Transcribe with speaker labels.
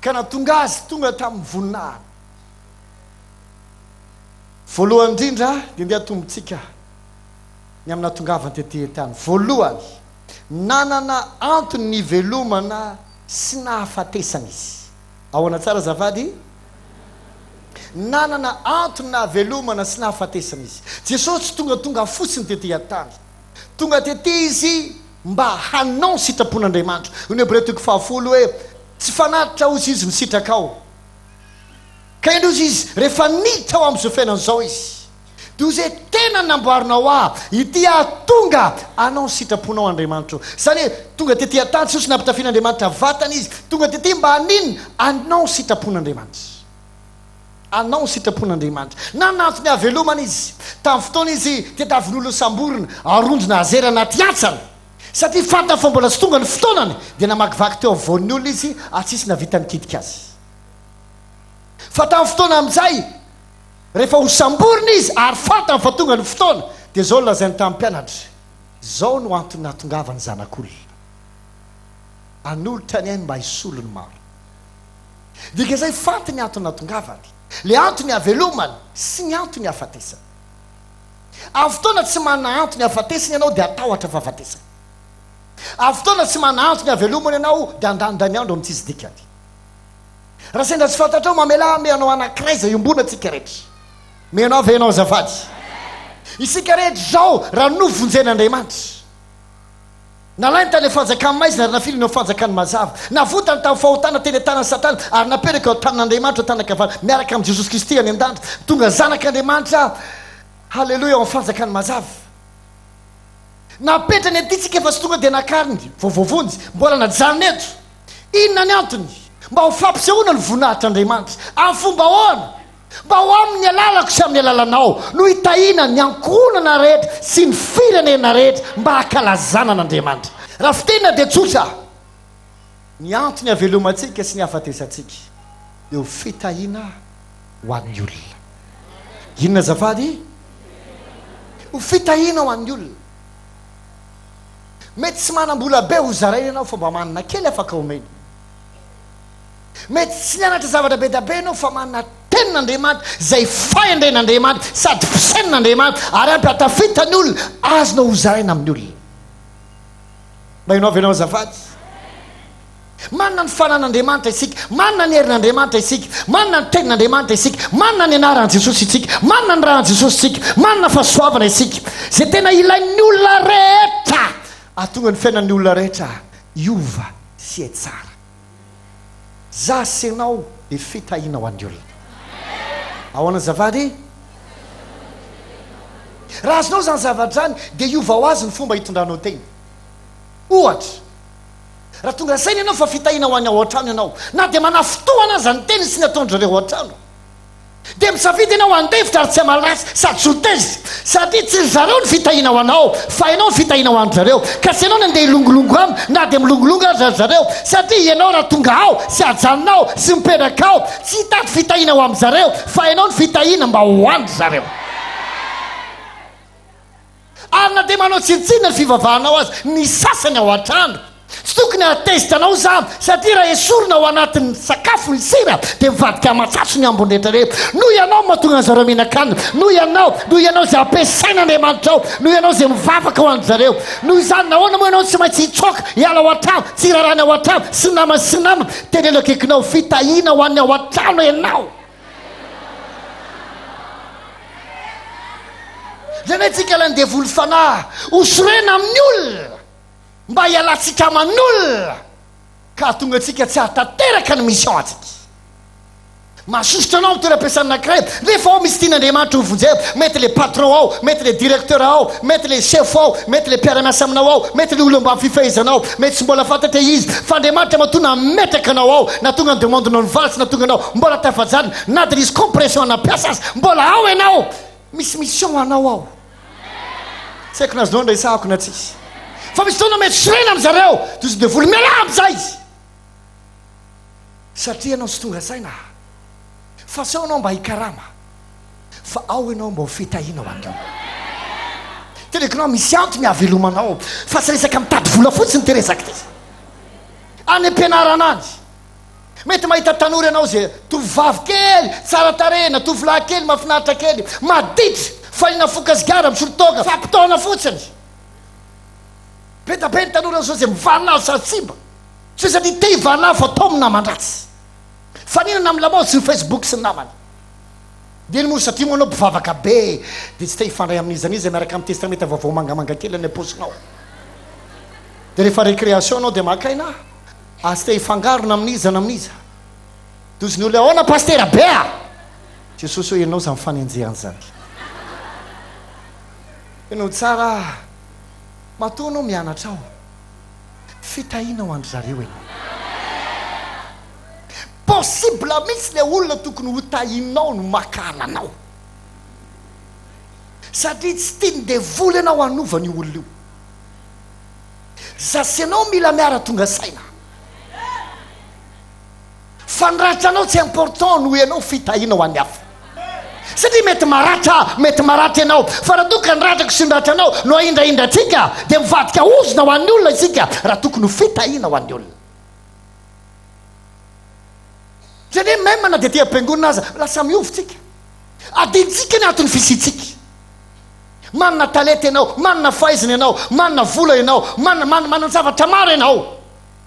Speaker 1: ka natonga azy tonga tamin'ny voninahiny. Voalohany indrindra dia ndeha tombontsika ny amin'ny natongavany tety an-tany. Voalohany, nanana antony nivelomana sy nahafatesana izy. Ahoana tsara azafady? Nanana antony nahavelomana sy nahafatesana izy. Jesosy tsy tongatonga fotsiny tety an-tany. Tonga tety izy mba hanao ny sitrapon'Andriamanitra. Hoy ny Hebreo toko fahafolo hoe, Tsy fanatitra hozy izy ny sitrakao. Ka indray hozy izy, rehefa niditra ao amin'izao fiainana izao izy, dia hozy hoe, Tena namboarinao aho ity hahatonga hanao ny sitraponao Andriamanitra ô. Izany hoe, tonga tety an-tany tsy hozy nampitafian'Andriamanitra vatana izy. Tonga tety mba haninona? Hanao ny sitrapon'Andriamanitra. Hanao ny sitrapon'Andriamanitra. Na nanantso ny hahavelomana Izy, tamin'ny fotoana Izy dia tavololon'ny samborina, arondrina, hazera anaty hantsana. Satria fantany fa mbola tsy tonga ny fotoanany, dia namakivaky teo afovoan'ny olona Izy ary tsisy navita nikitika Azy. Fa tamin'ny fotoana amin'izay, rehefa ho samborina Izy ary fantany fa tonga ny fotoana, dia izao no lazainy tamin'ny mpianatra, Izao no antony nahatongavan'ny Zanak'olona, hanolotra ny ainy mba hisolo ny maro. Dika izay faty ny antony natongavany, le antony havelomany sy ny antony hafatesany. Amin'ny fotoana tsy manana antony hafatesany ianao dia hatahotra fahafatesana. Amin'ny fotoana tsy manana antony havelomany ianao dia handanindany ny andro amin'ny tsisy dikany. Raha sendra tsy fantatrao, mamelà aho mihaino anankiray izay iombonantsika rehetra. Mihainoa ve ianao azafady? Isika rehetra izao raha novonjen'Andriamanitra. Nalainy tany amin'ny fanjakan'ny maizina ary nafiliny ao amin'ny fanjakan'ny mazava. Navotany tamin'ny fahotana teny an-tanan'i Satana ary napetraka eo an-tanin'Andriamanitra eo an-tanan-kavanana miaraka amin'i Jesosy Kristy any an-danitra. Tonga zanak'Andriamanitra, haleloia, ao amin'ny fanjakan'ny mazava. Napetrany aty isika fa tsy tonga dia nakariny vao voavonjy. Mbola najanony eto. Inona ny antony? Mba ho fampisehoana ny voninahitr'Andriamanitra. Amin'ny fomba ahoana? Mba ho amin'ny alalako sy amin'ny alalanao no hitahiana ny ankohonana rehetra sy ny firenena rehetra mba hankalazana an'Andriamanitra. Raha fitenina dia tsotra ny antony havelomantsika sy ny hahafatesantsika, eo fitahiana ho an'ny olona. Inona azafady? Ho fitahiana ho an'ny olona. Mety tsy manam-bola be ho zaraina ianao fa mba manana kely afaka omena. Mety tsy nianatra zavatra be dia be ianao fa manana Tenin'Andriamanitra izay fahendren'Andriamanitra sady fisainan'Andriamanitra ary ampy hahatafita ny olona azonao hozaraina amin'ny olona. Mba hainao avy ianao azafady? Manana ny fanan'Andriamanitra isika, manana ny herin'Andriamanitra isika, manana ny Tenin'Andriamanitra isika, manana ny anaran'i Jesosy isika, manana ny ran'i Jesosy isika, manana fahasoavana isika. Izay tena ilain'ny olona rehetra hahatonga ny fiainan'ny olona rehetra hiova sy hihetsara. Za sy enao de fitahina ho an'ny olona. Ahoana azafady e? Raha azonao zany zavatra zany de hiova ho azy ny fomba hitondranao tegna. Ohatra, raha tonga saina enao fa fitahina ho an'ny ao an-trano enao, na de manafintohana aza ny teniny sy ny ataon-dry reo ao an-trano, Dia misafidy ianao handefitra ary tsy hamaly ratsy sady sotaizy, satria tsy ry zareo no fitahiana ho anao, fa ianao no fitahiana ho an-dry zareo. Ka tsy ianao no handeha hilongolongo aminy, na dia milongolongo aza ry zareo, satria ianao raha tonga ao sy hajanona ao sy mipetraka ao, tsy hitady fitahiana ho amin-dry zareo, fa ianao no fitahiana mba ho an-dry zareo. Ary na dia manao tsinontsinona ny fivavahanao aza ny sasany ao an-trano, tsy tokony hahatezitra anao izany, satria raha esorina ao anatin'ny sakafo ny sira, dia mivadika aman-tsatso ny ambiny rehetra rehetra. Noho ianao no mahatonga an-dry zareo mihinan-kanina, noho ianao, noho ianao izay ampiasain'Andriamanitra ao, noho ianao izay mivavaka ho an-dry zareo. Noho izany, nahoana moa ianao no tsy maintsy hitsoaka, hiala ao an-trano, tsy hiraharaha ny ao an-trano, sy ny namany sy ny namana? Teneno akaikinao, fitahiana ho an'ny ao an-trano ianao. Zay ny antsika ilay ny devoly fanahy ho sorena amin'ny olona mba hialantsika aman'olona ka hahatonga antsika tsy hahatanteraka ny mission antsika. Masosotra anao amin'ny toeram-piasana anankiray nefa ao misy tian'Andriamanitra hovonjena, mety ilay patron ao, mety ilay directeur ao, mety ilay chef ao, mety ilay mpiara-miasa aminao ao, mety ilay olona ambany fifaizanao. Mety tsy mbola fantatra izy fa Andriamanitra matoa nametraka anao ao, nahatonga ny demande nao nivaly sy nahatonga anao mbola tafajanona, na dia nisy compression nampiasa aza, mbola ao ianao! Misy mission ho anao ao. Tsy haiko na azonao ny resahako na tsia. Fa misy fotoana mety sorena amin'izareo, tohizo ny devoly, mialà amin'izay izy. Satria ianao tsy tonga saina aho Fa sao ianao mba hikarama Fa ao ianao mba ho fetahina ao an-doha Telegram misy antony hahaveloma anao Fa tsy resaka mitady vola fotsiny ity resaka ity Any am-pianarana any Mety mahita tanora ianao izay tovovavy kely tsara tarehy na tovolahy kely mahafinaritra kely Maditra, fahina foka sigara, misolo toaka, fahakotorana fotsiny Be dia be ny tanora amin'izao izay mivalona azo sary tsimba Tsy satria te hivanafo atao amin'ny naman-dratsy. Faninana amin'ny lamaody sy ny Facebook sy ny namany. Dia ny moa satria moa ianao mpivavaka be dia tsy te hifandray amin'iza n'iza miaraka amin'ny Testamenta Vaovao mangamanga kely any am-paosinao. Dia rehefa récréation ianao dia maka aina ary tsy te hifangaro na amin'iza na amin'iza. Dozy ny olona ahoana Pasitera be a! Jesosy hoe ianao izany fanenjehana izany. Ianao tsara a! Matoa ianao mianatra ao. Fitahiana ho an-dry zareo ianao. Possible mihitsy ilay olona tokony hotahianao no makahala anao. Satria tsy tian'ny devoly ianao hanova an'io olona io. Zasy ianao mila miara-tonga saina. Fa ny ratranao tsy important noho ianao fitahiana ho an'ny hafa. Satria mety maratra aho, mety maratra ianao. Fa raha toa ka ny ratrako sy ny ratranao no ahindrahindrantsika dia mivadika ozona ho an'ny olona isika raha tokony ho fitahiana ho an'ny olona. Zany hoe même na dia aty am-piangonana aza lasa miova isika. Adinontsika ny antony fisiantsika. Manana talenta ianao, manana fahaizana ianao, manana vola ianao, manana, manana, manana zavatra maro ianao.